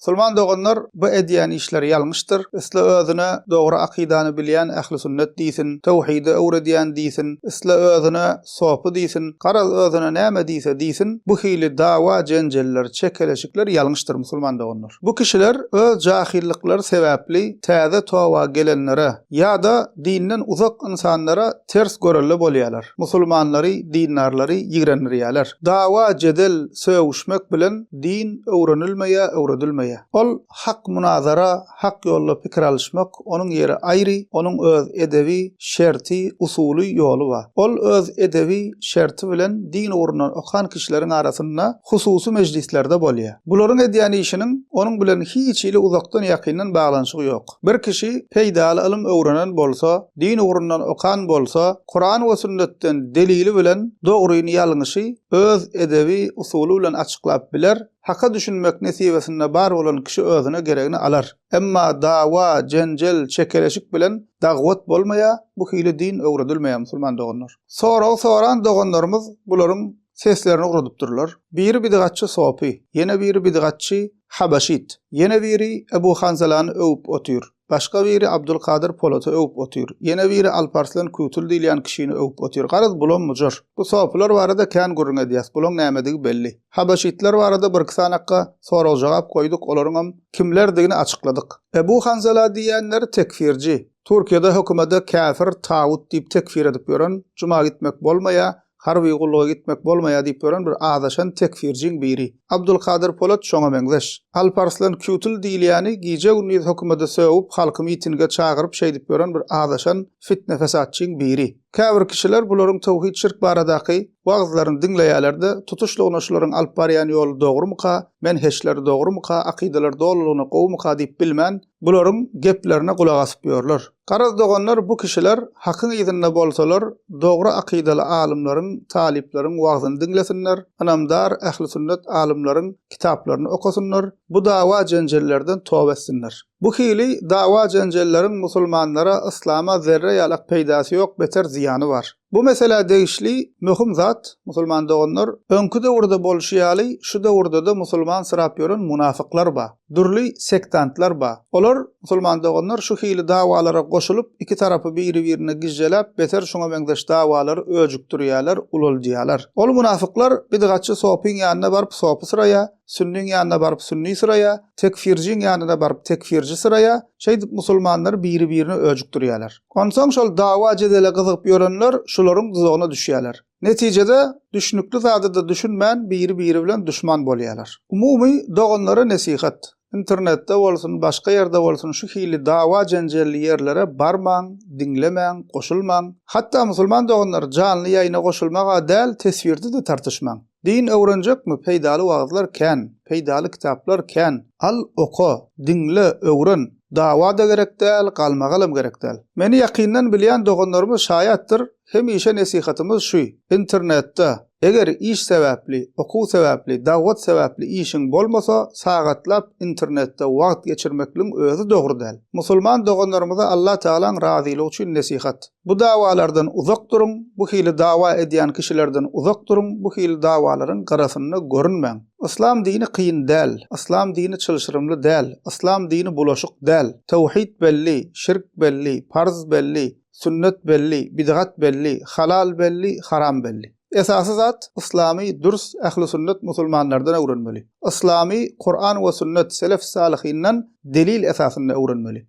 Musulman doganlar bu edýän işleri ýalňyşdyr, isle özüne dogry akydany bilýän ähli sünnet diýsin, töwhidi öwredýän diýsin, isle özüne sopy diýsin, garaz özüne näme diýse diýsin, bu hili dawa, jenjeller, çekeleşikler ýalňyşdyr, musulman doganlar. Bu kişiler öz jahyllyklary sebäpli täze toba gelenlere ýa-da dinden uzak ynsanlara ters görelde bolýarlar, musulmanlary, dindarlary ýigrendirýärler. Dawa, jedel, sögüşmek bilen Din öwrenilmeýär, öwredilmeýär. Ol hak munazara, hak ýolda pikir alyşmak, onuň ýeri aýry, onuň öz edebi, şerti, usuly, ýoly bar. Ol öz edebi, şerti bilen din ugrundan okan kişileriň arasynda hususy mejlislerde bolýar. Bularyň edýän işiniň onuň bilen hiç hili uzakdan-ýakyndan baglanyşygy ýok. Bir kişi peýdaly ylym öwrenen bolsa, din ugrundan okan bolsa, Kuran we sünnetden delili bilen dogryny ýalňyşy öz edebi usuly bilen açyklap biler, haka düşünmek nesibesinde bar bolan kişi özüne geregini alar. Emma dawa, jenjel, çekeleşik bilen dagwat bolmaýa, bu hili din öwredilmeýä musulman doganlar. Sorag soran doganlarymyz bularyň seslerini ugradypdyrlar. Biri bidgatçy sopy, ýene biri bidgatçy habaşit, ýene biri Ebu Hanzalany öwüp otyr. Başga biri Abdulkadyr Polata öwüp otyr. Ýene biri Alparslan Kütül diýilýän kişini öwüp otyr. Garaz, bulam mujar. Bu sopylar barada kän gürrüň edýäs. Bulaň nämedigi belli. Habaşytlar barada birki sanakga sorag-jogap goýduk, olaryňam kimlerdigini açykladyk. Ebu Hanzala diýýänler tekfirji. Türkiýede hökümede käfir, tagut diýip tekfir edip ýören, juma gitmek bolmaýar, Harby gulluga gitmek bolmaýar diýip ýören bir azaşan tekfirjiň biri. Abdulkadyr Polat şoňa meňzeş. Alp Arslan Kütil diýilýäni gije-gündiz hökümede sögüp, halky mitinge çagyryp şeýdip ýören bir azaşan fitne-fesatçyň biri. Käbir kişiler bularyň töwhid-şirk baradaky wagyzlaryny diňleýärler-de, tutuşlygyna şularyň alyp barýan ýoly dogrumyka, menheşleri dogrumyka, akydalary dolulygyna gowumyka diýip bilmän, bularyň geplerine gulak asyp ýörler. Garaz doganlar bu kişiler hakyň yzynda bolsalar dogry akydaly alymlaryň, talyplaryň wagzyny diňlesinler, ynamdar ähli sünnet alymlaryň kitaplaryny okasynlar, bu dawa jenjellerden toba etsinler. Bu hili dawa jenjelleriň musulmanlara, yslama zerre ýalak peýdasy ýok beter zyýany bar. Bu meselä degişli möhüm zat, musulman doganlar, öňki döwürde bolşy ýaly, şu döwürde-de musulmansyrap ýören munafyklar bar, dürli sektantlar bar. Olar, musulman doganlar, şu hili dawalara goşulyp, iki tarapy biri-birine gijjeläp, beter şuňa meňzeş dawalary öjükdirýärler, ulaldýarlar. Ol munafyklar bidgatçy sopyň ýanyna baryp sopy syraýar, Sünniň ýanyna baryp sünni syraýa, tekfirjiň ýanyna baryp tekfirji syraýa, şeýdip musulmanlary biri-birine öjükdirýärler. Onsoň şol dawa-jedele gyzygyp ýörenler şularyň duzagyna düşýärler. Netijede, düşnükli zada-da düşünmän biri-biri bilen duşman bolýarlar. Umumy, doganlara nesihat, internetde bolsun, başga ýerde bolsun şu hili dawa-jenjelli ýerlere barmaň, diňlemäň, goşulmaň. Hatda musulman doganlar janly ýaýyna goşulmaga däl teswirde-de tartyşmaň. Din öwrenjekmi, peýdaly wagyzlar kän, peýdaly kitaplar kän, al, oka, diňle, öwren, dawa-da gerek däl, galmagalam gerek däl. Meni ýakyndan bilýän doganlarymyz şaýatdyr, hemişe nesihatymyz şu, internetde, eger iş sebäpli, okuw sebäpli, dagwat sebäpli işiň bolmasa, sagatlap internetde wagt geçirmekligiň özi dogry däl. Musulman doganlarymyza Allatagalaň razylygy üçin nesihat. Bu dawalardan uzak duruň, bu hili dawa edýän kişilerden uzak duruň, bu hili dawalaryň gyrasynda görünmäň. Yslam dini kyn däl, Yslam dini çylşyrymly däl, Yslam dini bulaşyk däl. Tawhid belli, şirk belli, parz belli, sünnet belli, bidgat belli, halal belli, haram belli. Esasy zat, Yslamy dürs ähli sünnet musulmanlardan öwrenmeli. Yslamy Kuran we sünnet, selef-salihyndan delil esasynda öwrenmeli.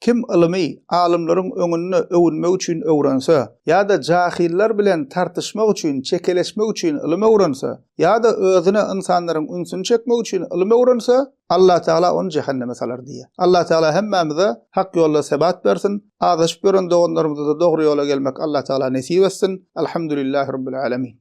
Kim ylymy alymlaryň öňünde öwünmek üçin öwrense, ýa-da jahyllar bilen tartyşmak üçin, çekeleşmek üçin ylym öwrense, ýa-da özüne ynsanlaryň ünsüni çekmek üçin ylym öwrense, Allatagala ony jähenneme salar diýýär. Allatagala hemmämize hak ýolda sebat bersin, azaşyp ýören doganlarymyza-da dogry ýola gelmek Allatagala nesip etsin. Alhamdulillah Rabbil Alamin.